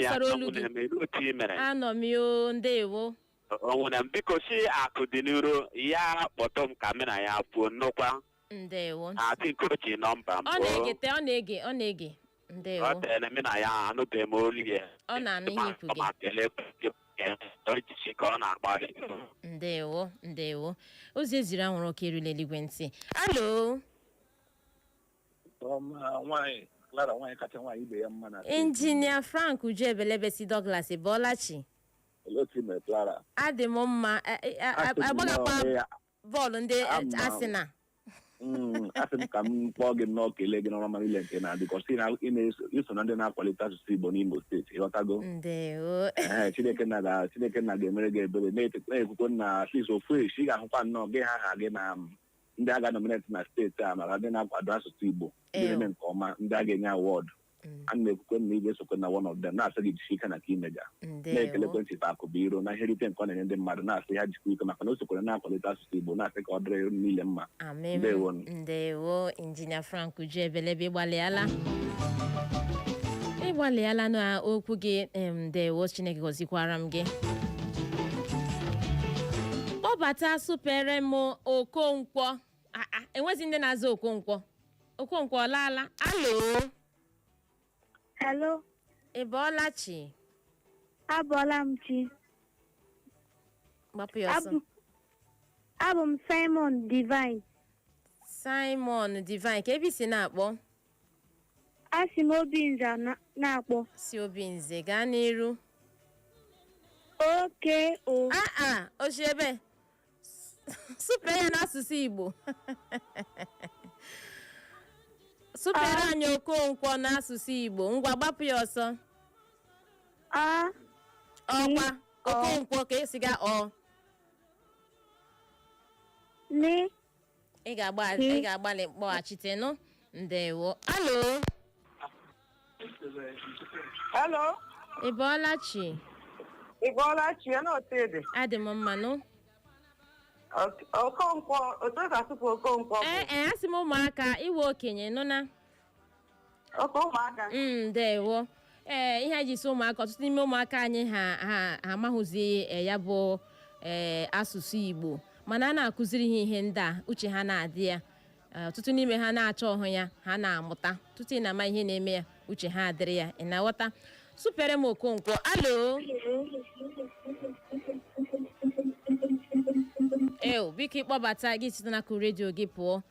ya sara olu gị na-eme ruo otu i mere anọ m yo ndewo nwanne m biko sị akụ dị n'iro ya kpọtụ m ka mụ na ya kwuo nnukwa ndewo I think o ji nọmba m ọ na-ege ntị ọ na-ege ọ na-ege ndewo ọ tere mụ na ya anụbeghị m olu ya ọ na-anụ ihe ikwu gị ma kelee ojiji ka ọ na-agbalị ndewo ndewo ozi e ziri anwụrụ ọkụ erule eluigwe ntị alo nwaanyị Clara nwaanyị kacha nwaanyị ibe ya mma na injinia frank uju ebelebe si douglas ị bọọla chi olee otu i mere Clara adị m mma a- a- a- Asị m agbagakwa nnọọ ya. bọọlụ ndị Ama m. Arsenal Mm, asị m ka m kpọọ gị nnọọ kelee gị n'ọrụ ọma niile nke na-adị ka ọ sị na ị na-eso- i so na ndị na-akwalite asụsụ Igbo n'Imo steeti ịghọtago ndewo Ee, Chineke nna ga- Chineke nna ga-emere gị ebere na-ete- na-ekwukwe na at least ofu echi ị ga-ahụkwa nnọọ gị aha gị na ndị a ga-nominate na steeti a maka ndị na-akwado asụsụ Igbo ndị Ew. na-eme nke ọma ndị a ga-enye awọdụ Mm. a na-ekwukwe na ị ga-esokwe na one of them na-asị gị jisi ike na nke i mega ndewo na-ekelekwe Chief Akụbụiro na ihe nrite nke ọ na-enye ndị mmadụ na-asị ya jikwa ike maka na o sokwere na-akwalite asụsụ Igbo na-asị ka ọ dịrị nile mma amen Ndewonu. ndewo Injinia Frank Ujuebelebe ịgbalịala ịgbalịala na okwu gị em, ndewo Chineke gọzikwara m gị kpọbata sụpere m Okonkwo Ah, ah, e nwezị ndị na-aza Okonkwo Okonkwo ọ laala alo Hello, ị bọọla chi abọọla m chi. gbapụ ya ọsọ Abụ- Abụ m Simon Divine. simon divine kee ebe i si na-akpọ Esi m Obinze na- na-akpọ. si Obinze gaa n'iru Oke o. aa ochi ebe sụpee ya n'asụsụ igbo sụpere anyị okonkwo n'asụsụ igbo ngwa gbapụ ya ọsọ a ọkwa Ọ. okonkwo ka esi ga ọ ni ị ga-agba- ị ga-agbalị kpọghachite nụ ndewo alo Hello, ị bọọla chi ị bọọla chi ya na otu ị dị. adị m mma nụ Okonkwo, otu e si asụpe Okonkwo bụ ee ee asị m ụmụaka ị wụ okenye nụ na Okay ụmụaka. Mm, ndewo ee ihe anyị ji sị ụmụaka ọtụtụ n'ime ụmụaka anyị ha ha ha amaghụzi eh, ya bụ ee asụsụ igbo mana a na-akụziri ha ihe ndị a uche ha na-adị ya Eh, ọtụtụ n'ime ha na-achọ ịhụ ya ha na-amụta tutu ị na-ama ihe na-eme ya uche ha adịrị ya ị na-aghọta sụpere m okonkwo alo eo biko ị kpọbata gị site n'akụkụ redio gị pụọ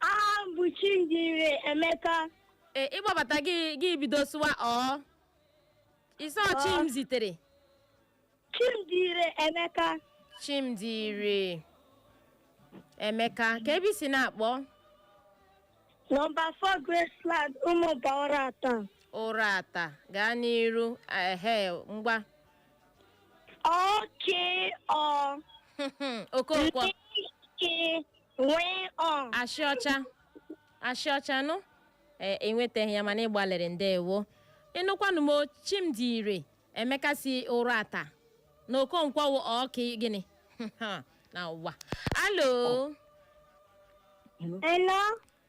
aha m bụ chimdire emeka ee ị kpọbata gị gị bido sụwa ọ ị sị ọ chimzitere chimdire emeka chimdire emeka ka ebe i si na-akpọ nọmba 4 graceland ụmụba ụrata ụrata gaa n'iru ehe ngwa O K O okonkwo Ike nwee ọ ashị ọcha ashị ọcha nụ ee i nwetaghị ya mana ị gbalịrị ndewo ị nụkwanụ m o, chimdire emeka si ụrata na okonkwo wụ ọka gịnị na ụwa alo Hello.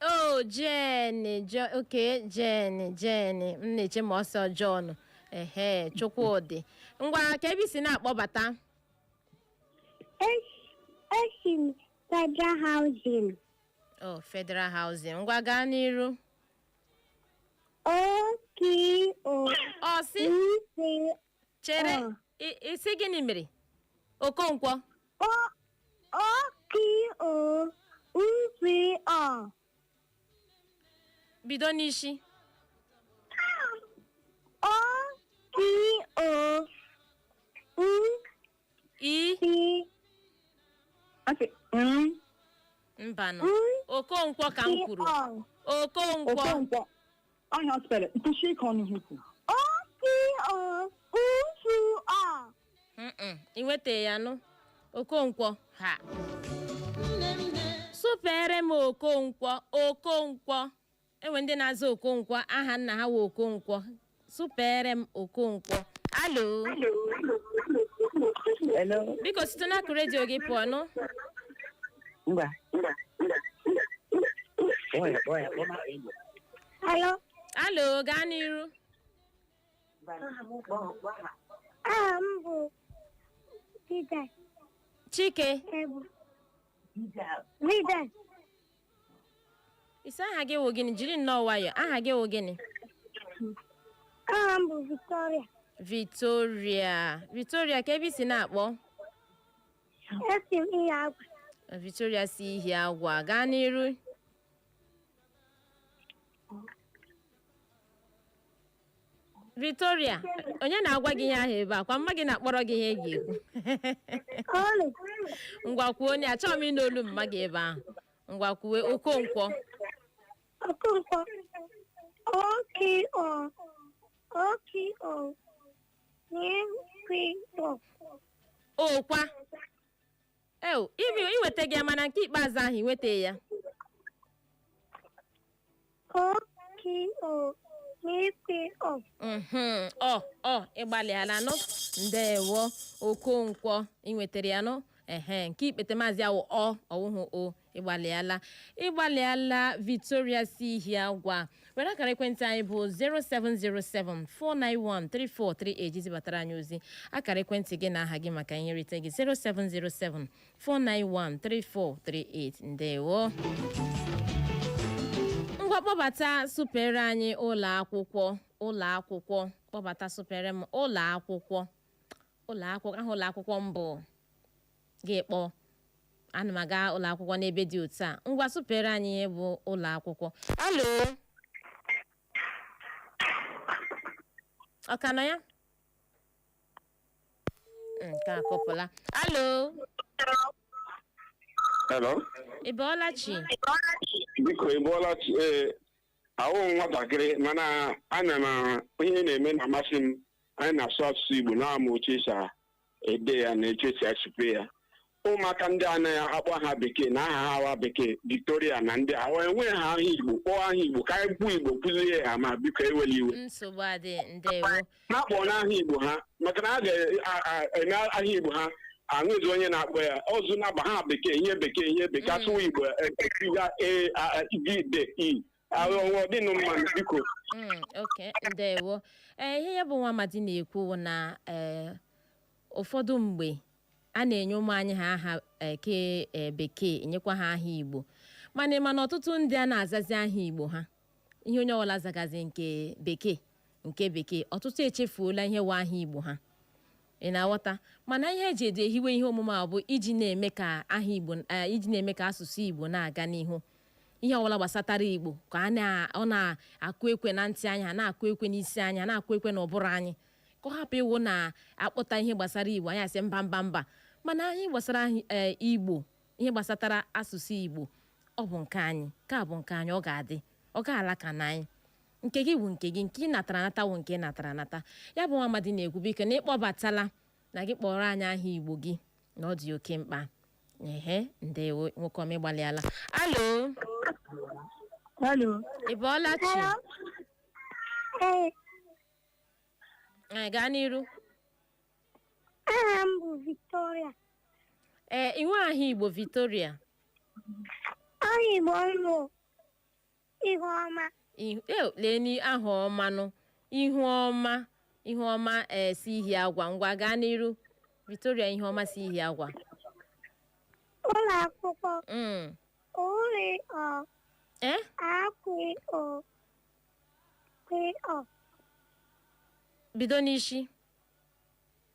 ọ jane jo okay jane jane m na-eche ma ọ sị ọ john ehe chukwudi ngwa ka ebe i si na-akpọbata Esi m Federal Housing. o federal housing ngwa gaa n'iru O K O ọ sị C chere Ọ. ị- ị sị gịnị mere okonkwo O O K O N T O. bido n'isi O K O N i T. Okay. N mbanụ N okonkwo ka m T kwuru O. okonkwo Okonkwo. ọnya spere nkwụsị ike ọnụ ha ikwu Mm-mm, ị nweta ya nụ okonkwo ha supeere m okonkwo okonkwo e nwe ndị na-aza okonkwo aha nna ha wụ okonkwo supeere m okonkwo alo Hello. biko site n'akụkụ redio gị pụọ nụ Ngwa. Oya, oya, kpọma enyi. Alo. alo gaa n'iru Aha m bụ Dida chike Ebu. Dida ị sị aha gị wụ gịnị jiri nnọọ nwayọ aha gị wụ gịnị aha m bụ Victoria. victoria victoria ka ebe i si na-akpọ Esi m ihiagwa. victoria si ihiagwa gaa n'iru Victoria onye na-agwa gị ihe ahụ ebe a kwa mma gị na-akpọrọ gị ihe ị ga-ekwu Ọlị. ngwa kwuo onye achọghị m ịnụ olu mma gị ebe ahụ ngwa kwuwe okonkwo Okonkwo. O K O. O K O. N K W O. ọ kwa ew ibi iwetaga ya mana nke ikpeazụ ahụ iwetaghị ya O K O K P O. Mhm. ọ ọ ịgbalịala nụ ndewo okonkwo inwetara ya nụ ehe nke ikpetemazụ a wụ ọ ọ wụhụ o ịgbalịala ịgbalịala victoria si Ihiagwa were akara ekwentị anyị bụ 07074913438 iji zibatara anyị ozi akara ekwentị gị na aha gị maka ihe nrite gị 07074913438 ndewo ngwa kpọbata sụpeere anyị ụlọ akwụkwọ ụlọ akwụkwọ kpọbata sụpeere m ụlọ akwụkwọ ụlọ akwụkwọ aha ụlọ akwụkwọ m bụ gị kpọọ ana m aga ụlọ akwụkwọ n'ebe dị otu a ngwa sụpeere anyị ihe bụ ụlọ akwụkwọ alo ọ ka nọ ya nke a kụpụla alo Hello. ị bọọla chi Biko ị bọọla chi ee awụhụ m nwatakịrị mana ana m ihe na-eme na-amasị m anyị na-asụ asụsụ Igbo na-amụ otu esi a- ede ya na etu esi asụpe ya ụmụaka ndị anaghị akpọ ha bekee na aha ha awa bekee Victoria na ndị a enwe ha aha Igbo kpọọ aha Igbo ka anyị kwuo Igbo kụzie ha ma biko ewela iwe nsogbu adị ndewo na-akpọ n'aha Igbo ha maka na a ga-eme aha Igbo ha enwezi onye na-akpọ ya ọzọ na-aba ha bekee ihe bekee ihe bekee asụwa Igbo ekiriga e a e, d d e ahụ ọnwa ọ dịnụ mma biko Mm, okay ndewo ee ihe ya bụ nwa amadi na-ekwu bụ na ee ụfọdụ mgbe a na-enye ụmụ anyị ha aha eke ee, bekee enyekwa ha aha igbo mana mana ọtụtụ ndị anaa azazi aha igbo ha ihe onye ọbụla zagazi nke bekee nke bekee ọtụtụ echefuola ihe wụ aha igbo ha Ị na-aghọta? Mana ihe e jiri hiwe ihe omume a bụ iji na-eme ka asụsụ Igbo na-aga n'ihu. Ihe ọbụla gbasatara Igbo ka ọ na-akụ ekwe na ntị anyị, ha na-akụ ekwe n'isi anyị, ha na-akụ ekwe n'ụbụrụ anyị. Ka ọ hapụ ịwụ na a kpọta ihe gbasara Igbo anyị asị mba mba mba. Mana ihe gbasara anyị, eh, Igbo, ihe gbasatara asụsụ Igbo, ọ bụ nke anyị. Nke a bụ nke anyị, ọ ga-adị. Ọ ga-ala ka na anyị. nke gị wụ nke gị nke ị natara anata wụ nke ị natara anata ya bụ nwa amadi na-ekwu biko na ịkpọbatala na gị kpọọrọ anyị aha igbo gị na ọ dị oke mkpa ehe ndewo nwoke ọma ịgbalịala alo Hello. ị bọọla chi Ee, anyị gaa n'iru aha m bụ Victoria. ee inwe aha igbo victoria Aha Igbo m bụ Ihuọma Ihu- eh, lee ni aha ọma nụ Ihuọma Ihuọma ee si Ihiagwa ngwa gaa n'iru Victoria Ihuọma si Ihiagwa ụlọ akwụkwọ Mm. ụ rị ọ eh a kwị ụ kwị ọ bido n'isi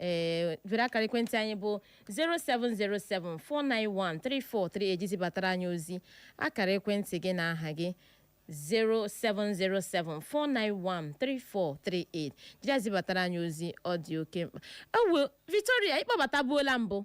ee jiri akara ekwentị anyị bụ 07074913438 iji zibatara anyị ozi akara ekwentị gị na aha gị 07074913438 jiri zibatara anyị ozi ọ dị oke mkpa ewo Victoria ị kpọbatabuola mbụ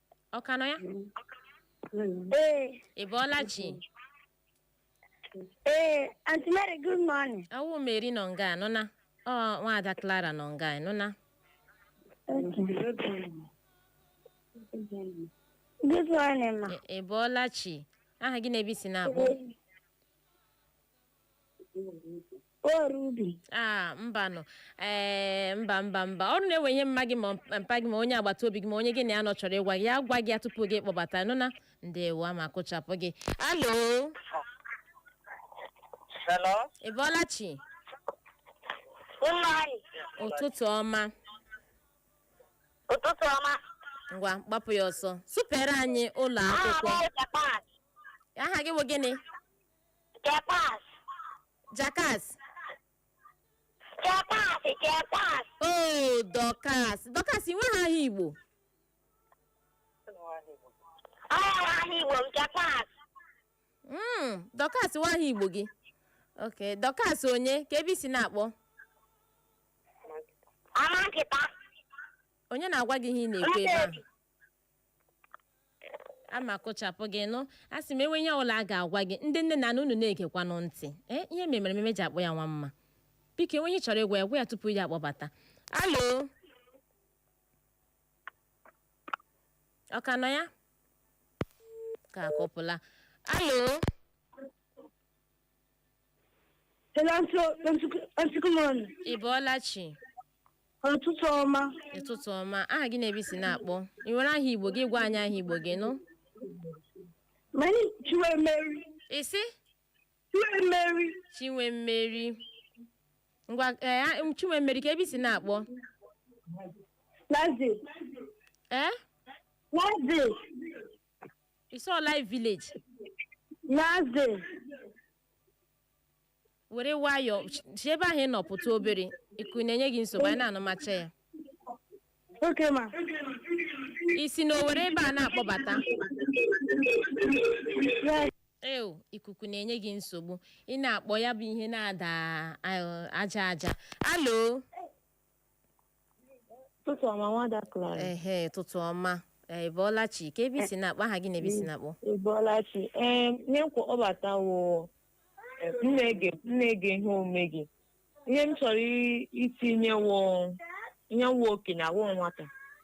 ọ ka nọ ya Ee, ị bọọla chi ee, Aunty Mary, good morning. awụ Mary nọ nga a, nụna ọ nwaada Clara nọ nga a, nụna Good morning, ma. Ị- ị bọọla chi aha gị na ebe i si na-akpọ Oru ubi. a mbanụ ee mba mba mba ọrụ na enwe ihe mma gị ma mpa gị ma onye agbata obi gị ma onye gị na ya nọ chọrọ ịgwa gị ya gwa gị ya tupu gị kpọbata nụna ndewo ama kụchapụ gị alo Hello? ị bọọla chi Good morning. ụtụtụ ọma Ụtụtụ ọma. ngwa gbapụ ya ọsọ sụpeere anyị ụlọ Aha m akwụkwọ bụ Japan. aha gị bụ gịnị Japan. jakas Chepas, chepas. o Dorcas Dorcas i nweghị aha igbo Ọ nwere aha Igbo m chepas. Mm, Dorcas wụ aha igbo gị ok Dorcas onye ka ebe i si na-akpọ Amankuta. onye na-agwa gị ihe ị na-ekwu ebe ahụ ama kụchapụ gị nụ asị m enwe ihe ọbụla a ga-agwa gị ndị nne na nna unu na-egekwanụ ntị ee ihe mere ememe ji akpọ ya nwa mma biko enwe ihe ị chọrọ ịgwa ya gwa ya tupu ya akpọbata alo ọ ka nọ ya ka akụpụla alo Hello, Auntie good morning. ị bọọla chi Ụtụtụ ọma. ụtụtụ ọma aha gị na ebe i si na-akpọ i nwere aha igbo gị gwa anyị aha igbo gị nụ Many Chinwemmeri. ị sị Chinwemmeri. Chinwemmeri ngwa ee a- m- Chinwemmeri ka ebe i si na-akpọ Naze. ee Naze. ị sị life village Naze. were nwayọọ si ebe ahụ ị nọ pụta obere ikuku na-enye gị nsogbu anyị na-anụmacha ya okay ma i si n'Owere ebe a na-akpọbata yes eo ikuku na-enye gị nsogbu ị na-akpọ ya bụ ihe na-ada ah, aja aja hello Ụtụtụ ọma nwada Clara. ehe ụtụtụ ọma ee, ị bọọla chi ka ebe i si na-akpọ aha gị na ebe i si na-akpọ Ị bọọla chi. Ee, ihe m kpọbata wụ na m na-ege ihe omume gị. Ihe m chọrọ i- itinye wụ ihe wụ okenye wụ nwata.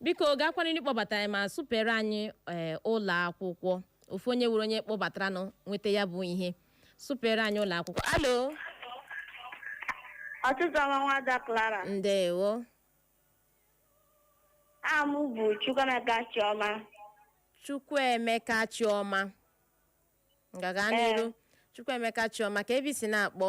biko gaakwa n'iru kpọbata anyị ma sụpere anyị ee ụlọ akwụkwọ ofu onye wụrụ onye kpọbataranụ nweta ya bụ ihe sụpere anyị ụlọ akwụkwọ hello Ụtụtụ ọma nwada Clara. ndewo Aha m bụ Chukwuemeka Chioma. chukwuemeka chioma ngwa gaa n'iru chukwuemeka chioma ka ebe i si na-akpọ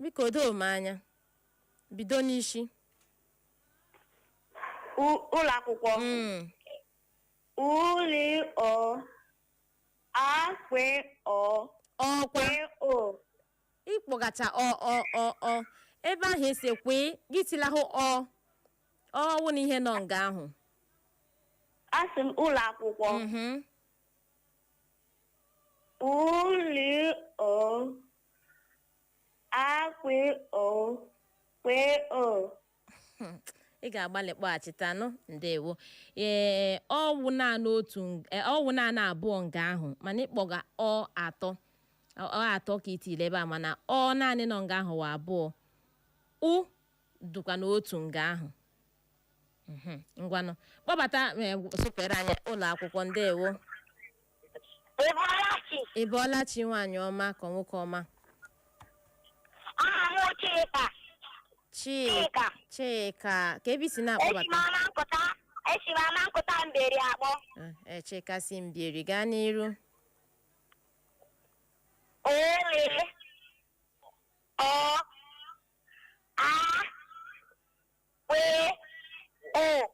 Biko doo m anya. Bido n'isi. U- ụlọ akwụkwọ Mm. ụ lị ọ a kwe ọ Ọkwa. kwe ọ ị kpọgacha ọ ọ ọ ọ ebe ahụ esi ekwe gị tilahụ ọ ọ wụ na ihe nọ nga ahụ asị m ụlọ akwụkwọ Mhm. Ụ lị ọ. A kwi ọ. Kwe ọ. ị ga-agbalị kpọghachitanụ ndewo ee ọ wụ naanị otu ng- eh, ọ wụ naanị abụọ nga ahụ mana ị kpọga ọ atọ ọ ọ atọ ka i tile ebe a mana ọ naanị nọ nga ahụ wụ abụọ ụ dụkwa na otu nga ahụ Mhm. ngwanụ kpọbata eh, sụpere anyị ụlọ akwụkwọ ndewo Ị bọọla chi? ị bọọla chi nwaanyị ọma ka nwoke ọma Aha m Chika. chika chika ka ebe i si Esi m na-akpọbata Amankuta, esi m Amankuta Mbieri akpọ. Eh, eh, Chika si Mbieri gaa n'iru Ụ. Le. Ọ. A. Kwee. O.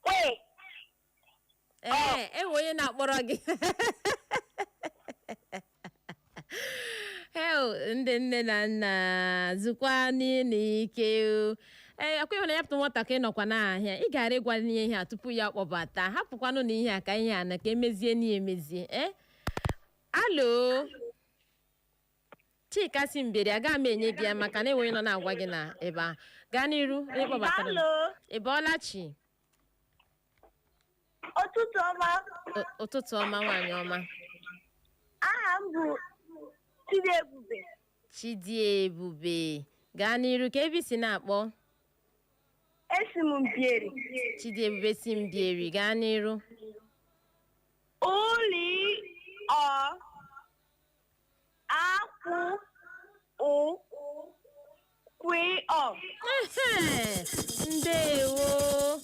Kwe. ee e nwe onye na-akpọrọ gị hei ndị nne na nna zukwanụ ike o. ee ọ kwa ị hụna ya pụta nwatakịrị nọkwa n'ahịa ị gara ịgwa n'ihe ihe a tupu ya kpọbata hapụkwanụ na ihe a ka ihe a na ka emezie na ya emezie ee hello chika si Mbieri aga m enye gị ya maka na enweghị nọ na-agwa gị na ebe ahụ gaa n'iru onye kpọbatara m. Daalụ. ị bọọla chi Ụtụtụ ọma. Ụ- ụtụtụ ọma nwaanyị ọma Aha m bụ Chidiebube. chidiebube gaa n'iru ka ebe i si na-akpọ Esi m Mbieri. chidiebube si mbieri gaa n'iru Ụ lị ọ a kwị ụ kwị ọ Ehe, ndewo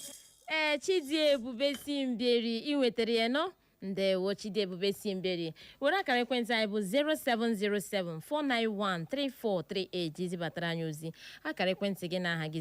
ee chidiebube si Mbieri i nwetara ya nnọọ ndewo chidiebube si Mbieri were akara ekwentị anyị bụ 07074913438 i zibatara anyị ozi akara ekwentị gị na aha gị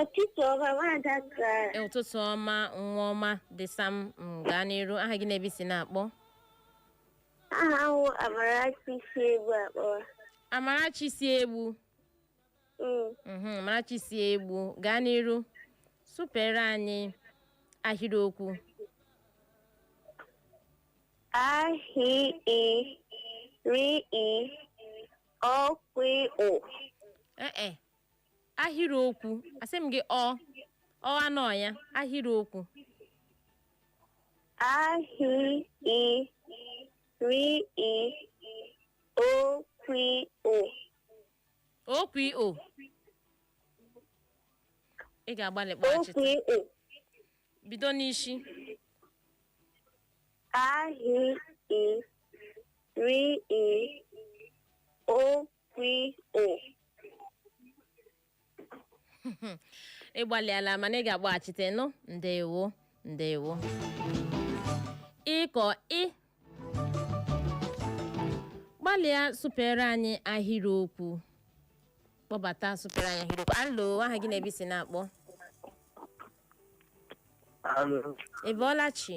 Ụtụtụ ọma nwaada Clara. ụtụtụ ọma nwa ọma dị sam m gaa n'iru aha gị na ebe i si na-akpọ Aha m bụ Amarachi si Egbu akpọ. amarachi si egbu Mm. Mhm, amarachi si egbu gaa n'iru supere anyị ahịrịokwu Ahịrịokwu. ee ahịrịokwu asị m gị ọ ọ anọ ya ahịrịokwu A hi i ri i o kwi o. okwu o ị ga-agbalị O kpọghachite kwi o. bido n'isi A hi i ri i o kwi o. ị gbalịala mana ị ga-akpọghachite nụ ndewo ndewo biko ị gbalịa supere anyị ahịrịokwu kpọbata supere anyị ahịrịokwu alo aha gị na ebe i si na-akpọ Alo, ị bọọla chi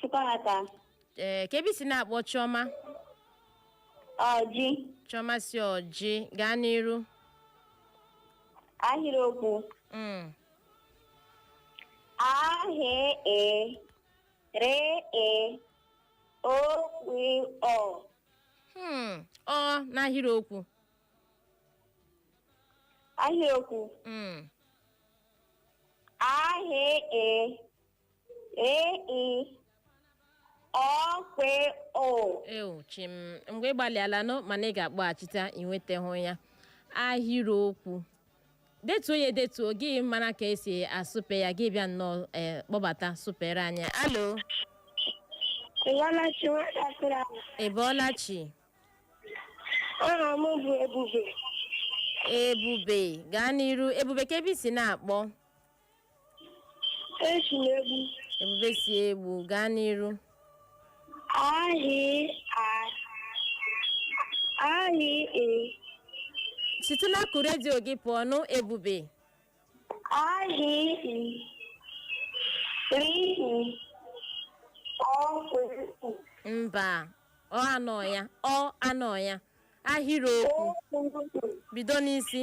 Chukwuemeka. ee ka ebe i si na-akpọ chioma Ọjị. chioma si ọjị gaa n'iru Ahịrịokwu. Mm. A hi e. Ri e. O kwi o. Hmm, ọ n'ahịrịokwu Ahịrịokwu. Mm. A hi e. E-E. Ọ-kwe-o. eo chim mgbe ị gbalịala nụ mana ị ga-akpọghachita ị nwetahụ ya ahịrịokwu detuo ya edetuo gị mara ka esi asụpe ya gị bịa nnọọ eh, kpọbata sụpere anyị alo Ị bọọla chi Nwada Clara. ị bọọla chi Aha m bụ Ebube. ebube gaa n'iru ebube ka ebe i si na-akpọ Esi m Egbu. ebube si egbu gaa n'iru Ahị a. Ahị e. site n'akụkụ redio gị pụọ nụ ebube Ahị e. Ri e. Ọ kwụ. mba ọ anọ ya ọ anọ ya ahịrịokwu O kwuru. bido n'isi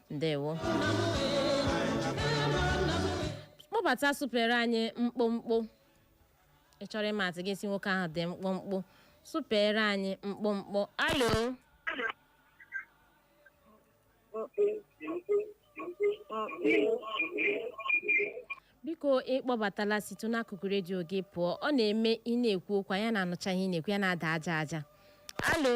ndewo kpọbata sụpere anyị mkpụmkpụ ị chọrọ ịma atụ gị sị nwoke ahụ dị mkpụmkpụ sụpere anyị mkpụmkpụ alo biko ịkpọbatala site n'akụkụ redio gị pụọ ọ na-eme ị na-ekwu okwu ya na-anụcha ihe ị na-ekwu ya na-ada aja aja alo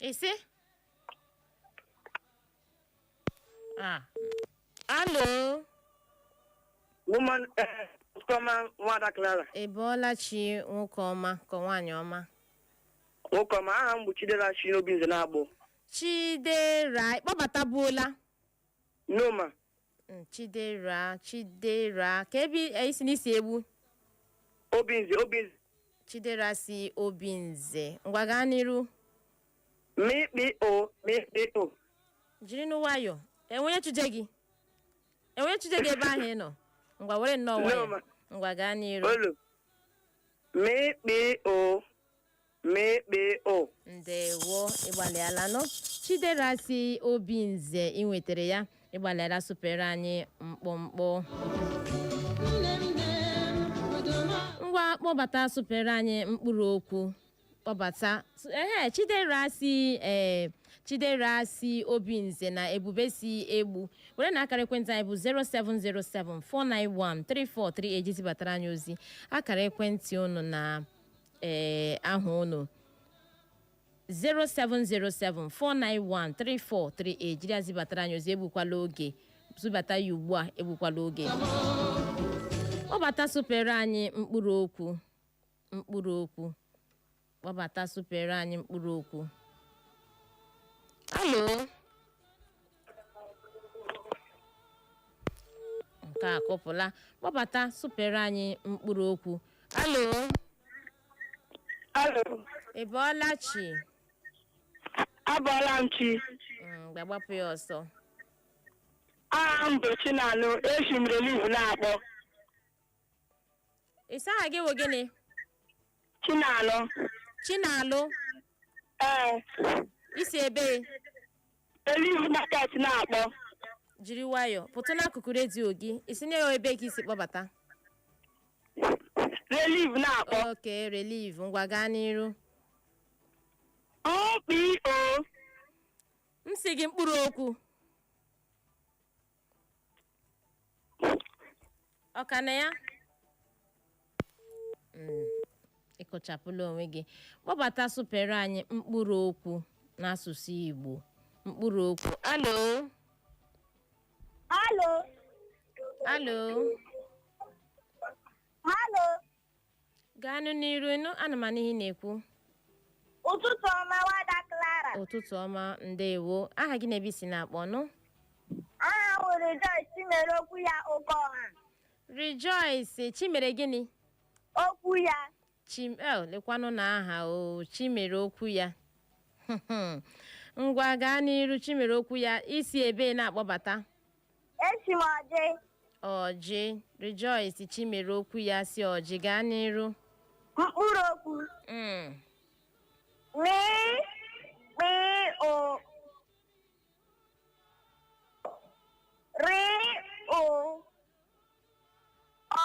ise ah alo Woman, eh, Ukoma, Nwada Clara. ị bọọla chi nwoke ọma ka nwaanyị ọma Nwoke ọma, aha m bụ Chidera si n'Obinze na-akpọ. chidera ịkpọbatabuola No ma, Mm, chidera chidera ka ebe eh, i si na i si Egbu Obinze Obinze chidera si Obinze ngwa gaa n'iru mị kpị ụ mị kpị ụ jiri nụ nwayọ enwe onye chụje gị enwe onye chụje gị ebe ahụ ị nọ ngwa were nnọọ No, nwayọ ma- ngwa gaa n'iru olu mị kpị ụ mị kpị ụ ndewo ịgbalịalanụ chidera si Obinze ị nwetara ya ịgbalịala sụpere anyị mkpụmkpụ ngwa kpọbata sụpere anyị mkpụrụ okwu kpọbata ehe chidera si ee chidera si Obinze na ebube si egbu werenụ akara ekwentị anyị bụ 0707 491 3438 zibatara anyị ozi akara ekwentị unu na ee aha unu 07074913438 jiri ya zibatara anyị ozi egbukwala oge zibata ya ugbu a egbukwala oge kpọbata sụpere anyị mkpụrụ okwu mkpụrụ okwu kpọbata sụpere anyị mkpụrụ okwu alo nke a kụpụla kpọbata sụpere anyị mkpụrụ okwu alo Alo, ị bọọla chi abọọla m chi. Mm, bịa gbapụ ya ọsọ Aha m bụ Chinalụ, esi m Relief na-akpọ. ị sị aha gị wụ gịnị Chinalụ. Chinalụ Ee, i si ebe Relief Market na-akpọ. jiri nwayọọ pụtụ n'akụkụ redio gị ị sị na ebe ka i si kpọbata Relief na-akpọ. okay Relief ngwa gaa n'iru OPO m sị gị mkpụrụ okwu ọ ka na ya Mm, ị kụchapụla onwe gị kpọbata sụpere anyị mkpụrụ okwu n'asụsụ Igbo mkpụrụ okwu alo Alo, alo alo, gaanụ n'iru ị nụ ana m anụ ihe ị na-ekwu ụtụtụ ọma nwada Clara ụtụtụ ọma ndewo aha gị na ebe i si na-akpọ nụ aha m wụ Rejoice Chimere okwu ya oke ọha Rejoice Chimere gịnị okwu ya chim el lekwanụ na aha o chimere okwu ya ngwa gaa n'iru chimere okwu ya i si ebe na-akpọbata Esi m Ọjị. Ọjị Rejoice Chimere okwu ya si Ọjị gaa n'iru Mkpụrụ okwu. Mm, Mị kpị ụ. Rị ụ. O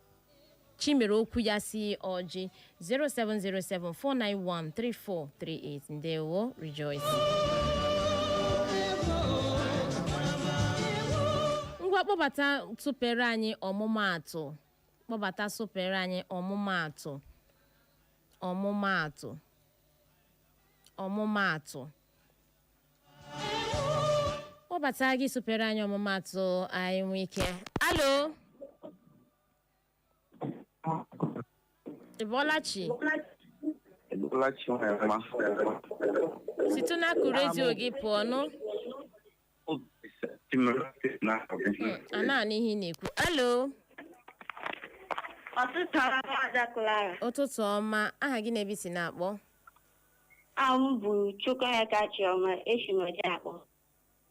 Chimere okwu ya si Ọjị 07074913438 ndewo Rejoice ngwa kpọbata sụpere anyị ọmụmaatụ kpọbata sụpere anyị ọmụmaatụ ọmụmaatụ ọmụmaatụ kpọbata gị sụpere anyị ọmụmaatụ anyị nwee ike alo ị bọọla chi Ị bọọla chi Nwema. site n'akụkụ redio gị pụọ nụ a na-anụ ihe ị na-ekwu alo Ụtụtụ ọma nwada Clara. ụtụtụ ọma aha gị na ebe i si na-akpọ Aha m bụ Chukwuemeka Chioma esi m Ọjị akpọ.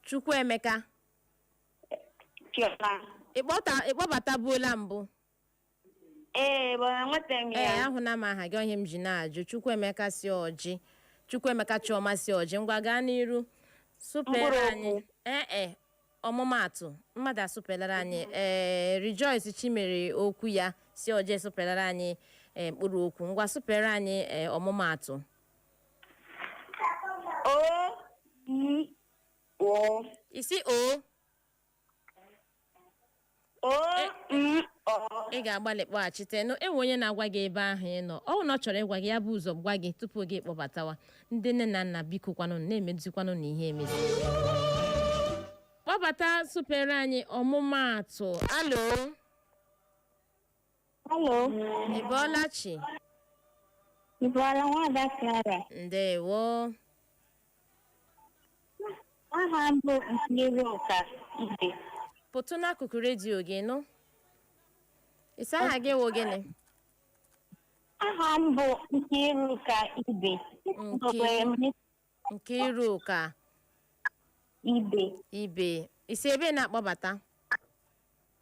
Chukwuemeka Chioma. ị kpọta ị kpọbatabuola mbụ Ee, mana enweta m ee ya. ahụna m aha gị ihe m ji na-ajụ Chukwuemeka si Ọjị Chukwuemeka Chioma si Ọjị ngwa gaa n'iru sụpere Mkpụrụ anyị okwu. ee e ọmụmaatụ mmadụ asụpelere anyị ee Rejoice Chimere okwu ya si Ọjị sụpelere anyị ee, mkpụrụ okwu ngwa sụpere anyị ee, ọmụmaatụ Ọ I Ọ ị sị ọ Ọ m ọ. ị ga-agbalị kpọghachite nụ e nwe onye na-agwa gị ebe ahụ ị nọ ọ bụ na ọ chọrọ ịgwa gị ya bu ụzọ gwa gị tupu gị kpọbatawa ndị nne na nna biko kwanụ na-emezikwanụ na ihe emezi kpọbata sụpere anyị ọmụmaatụ alo Hello, ị bọọla chi ị bọọla nwada Clara. ndewo Aha m bụ Nkiruka Ibe. pụtụ n'akụkụ redio gị nụ ị sị aha gị wụ gịnị Aha m bụ Nkiruka Ibe. Nkiru. Ugogbe m Nkiruka Ibe Ibe i si ebee na-akpọbata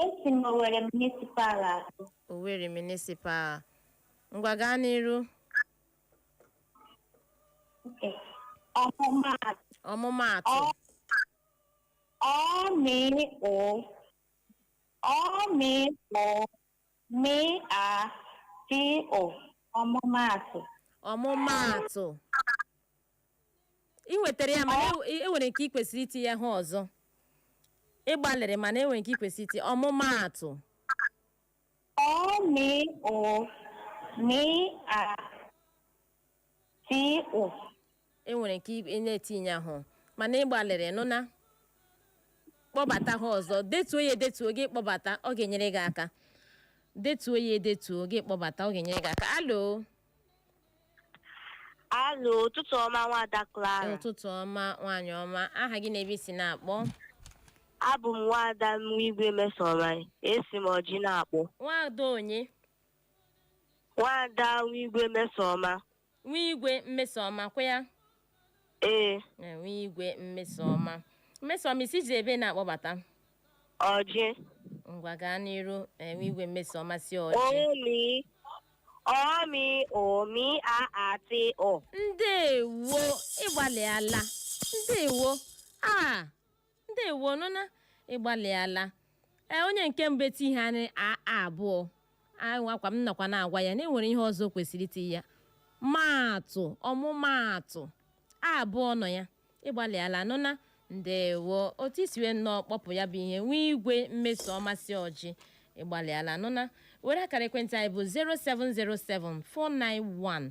esi m Owere Municipal akpọ Owerri Municipal ngwa gaa n'iru nke ọmụmaatụ ọmụmaatụ ọ ọ mịị ụ ọ mịị ụ Mị a tị ụ ọmụmaatụ. ọmụmaatụ i nwetara ya mana e- e nwere nke ị kwesịrị itinye ha ọzọ ị gbalịrị mana e nwere nke ị kwesịrị itinye ọmụmaatụ Ọ mị ụ mị a tị ụ e nwere nke ị- ị na-etinye ahụ mana ị gbalịrị nụ na kpọbata ha ọzọ detuo ya edetuo gị kpọbata ọ ga-enyere gị aka detuo ya edetuo gị kpọbata ọ ga-enyere gị aka alo alo ụtụtụ ọma nwada Clara ụtụtụ ọma nwaanyị ọma aha gị na ebe i si na-akpọ abụ m nwada Nwigwe Mmesoma esi m Ọjị na-akpọ nwada onye Nwaada Nwigwe Mmesoma. Nwigwe Mmesoma kwa ya? Ee, Na Nwigwe Mmesoma. Mmesoma i sizi ebee na-akpọbata. Ọjị. Ngwa gaa n'iru eh, Nwigwe Mmesoma si Ọjị. Ọ mị. Ọ mị ụ mị a a tị ụ. Ndewo ị gbalịala. Ndewo. Ah, ndewo nụna ịgbalịala ee onye nke mbụ eti ihe anyị a a abụọ anwakwa m nakwa na-agwa ya na e nwere ihe ọzọ o kwesịrị itiye maatụ ọmụmaatụ a abụọ nọ ya ịgbalịala nụna ndewo otu i si wee nnọọ kpọpụ ya bụ ihe nwee Igwe Mmesọma si Orji ịgbalịala nụna were akara ekwentị anyị bụ 0707 491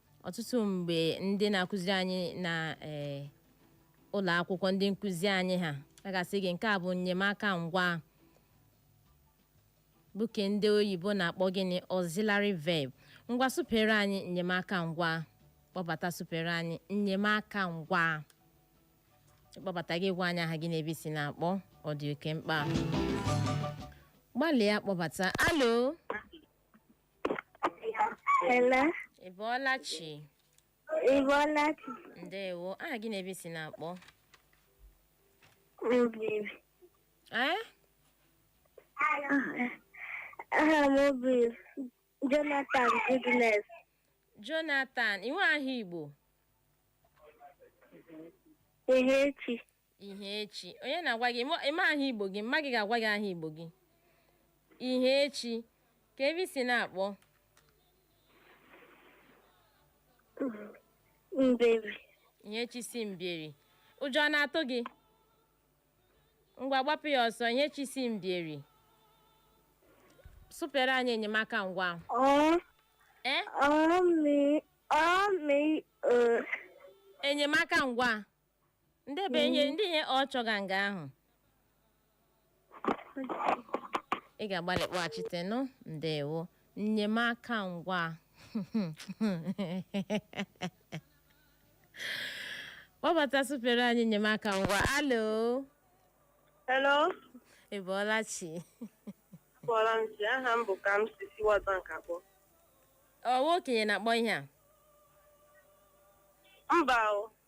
ọtụtụ mgbe ndị na-akụziri anyị na ee ụlọ akwụkwọ ndị nkụzi anyị ha a ga-asị gị nke a bụ nnyemaka ngwa bụ ke ndị oyibo na-akpọ gịnị auxiliary verb ngwa sụpere anyị nnyemaka ngwa kpọbata sụpere anyị nnyemaka ngwa kpọbata gị gwa anyị aha gị na ebe i si na-akpọ ọ dị oke mkpa gbalịa kpọbata alo Hello. ị bọọla chi Ị bọọla chi? ndewo aha gị na ebe i si na-akpọ Obibi. ee Aha m bụ Jonathan Goodness. jonathan i nwe aha igbo Ihechi. Ihechi onye na-agwa gị ịma- ịma aha igbo gị mma gị ga-agwa gị aha igbo gị Ihechi kee ebe i si na-akpọ Mbieri. Ihechi si Mbieri ụjọ ọ na-atụ gị ngwa gbapụ ya ọsọ Ihechi si Mbieri sụpere anyị enyemaka ngwa Ọ e ọ mi ọ mi o enyemaka ngwa ndị be nye ndị nye ọ chọga nga ahụ ị ga-agbalị kpọghachite nụ ndewo nnyemaka ngwa kpọbata sụpere anyị nnyemaka ngwa alo Hello, ị bọọla chi akpọrọ m si aha m bụ Kamsi si World Bank akpọ. ọ wụ okenye na-akpọ ihe a Mba o,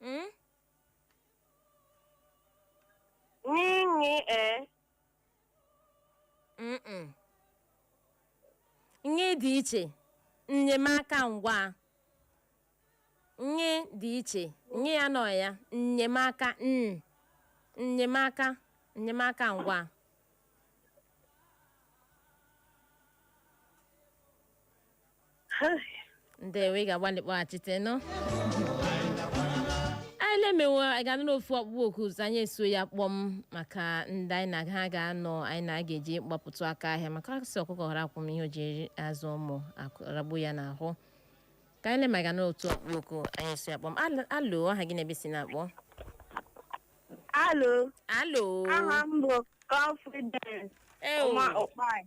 Mm? Nyinyi e. Mm-mm. Nye dị iche. Nnyemaka ngwa. Nye dị iche. Nye ya nọ ya. Nnyemaka n. Nnyemaka. Nnyemaka ngwa. ndewo ị ga-agbalị kpọghachite ka anyị lee ma anyị ga-anara otu ọkpụkpọ oku ọzọ anyị eso ya kpọm maka ndị anyị na ha ga-anọ anyị na ha ga-eji gbapụtụ aka ahịa maka a sị ọkụkọ ghara kwọm ihe o ji azụ ụmụ ragbu ya n'ahụ ka anyị lee ma a ga-anara otu ọkpụkpọ oku anyị eso ya kpọm Al- alo aha gị na ebe i si na-akpọ Alo, alo aha m bụ Confidence Ew. Ụma Ụkpai.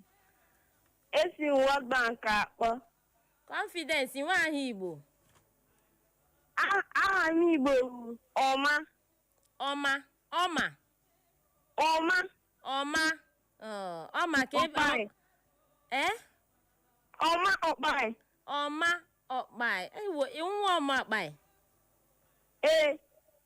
Esi m World Bank akpọ. Confidence i nwe aha Igbo. A- Aha m Igbo bụ Ọma. Ọma. Ọma. Ọma. Ọma. Ọ, Ọma ka ebe. Ọkpaị. Eh? Ọma Ọkpaị. Ọma ọkpaị. Ewo, ị wụ nwa ọma ọkpaị. Ee.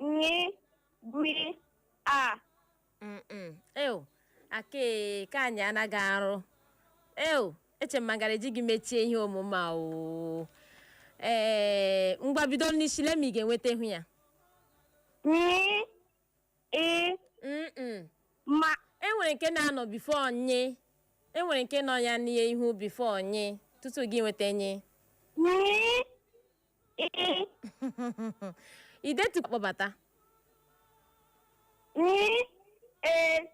nyi gwi a Mm-mm. Ew, ake ka anyị anaghị arụ. Ew, eche m a gaara eji gị mechie ihe omume a oo. Ee, ngwa bido n'isi lee ma ị ga-enweta ihu ya. nyi i Mm-mm. ma E nwere nke na-anọ before nyi. E nwere nke nọ ya n'ihe ihu before nyi tupu gị enweta nyi. nyi Ee. idetu kpọbata Ni. E.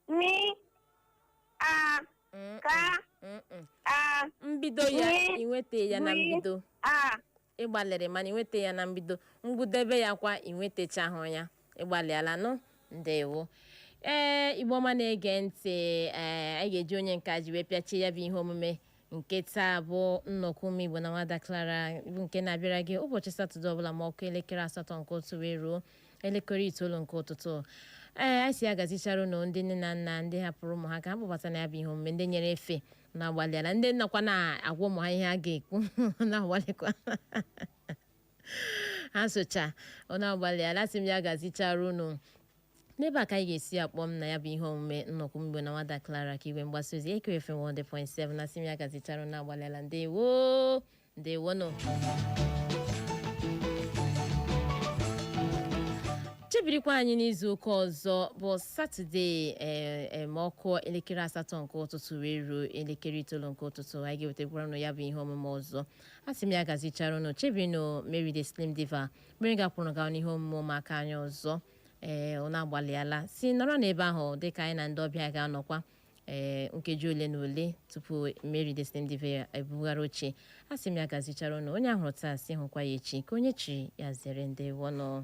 Ni. A. Mm, Ka. mm, mm. A. mbido ya Ni. i nweta ya na Ni. mbido A. ị gbalịrị mana i nweta ya na mbido ngwụdebe ya kwa i nwetachahụ ya ị gbalịala nụ ndewo ee igbo ọma na-ege ntị ee anyị ga-eji onye nke a ji wee pịachie ya bụ ihe omume nke taa bụ nnọkọ ụmụ igbo na nwada clara bụ nke na-abịara gị ụbọchị satọde ọbụla ma ọ kụọ elekere asatọ nke ụtụtụ wee ruo elekere itoolu nke ụtụtụ ee anyị sị ya gazichara ụnụ ndị nne na nna ndị hapụrụ ụmụ ha ka ha kpọbata na ya bụ ihe omume ndị nyere efe ụnụ agbalịala ndị nọkwa na-agwa ụmụ ha ihe a ga-ekwu na-agbalịkwa asụcha unu agbalịala a sị m ya gazichara unu n'ebe a ka anyị ga-esi kpọm na ya bụ ihe omume nnọkọ ụmụ igbo na nwada Clara ka igwe mgbasa ozi Ekere FM 100.7 a sị m ya gazichara unu agbalịala ndewo ndewonụ chebirikwa anyị n'izu ụka ọzọ bụ satọde ee ma ọ kụọ elekere asatọ nke ụtụtụ wee ruo elekere itoolu nke ụtụtụ anyị ga-ewetakwara unu ya bụ ihe omume ọzọ a sị m ya gazichara unu chebirinụ mary the slim diva mary ga-akwụrụ gawa n'ihe omume ụmụaka anyị ọzọ ee unu agbalịala si nọrọ n'ebe ahụ dịka anyị na ndị ọbịa ga-anọkwa ee nkeji ole na ole tupu mary the slim diva ebugharị oche a sị m ya gazichara unu onye a hụrụ taa sị hụkwa ya echi ka onye chiri ya zere ndewonụ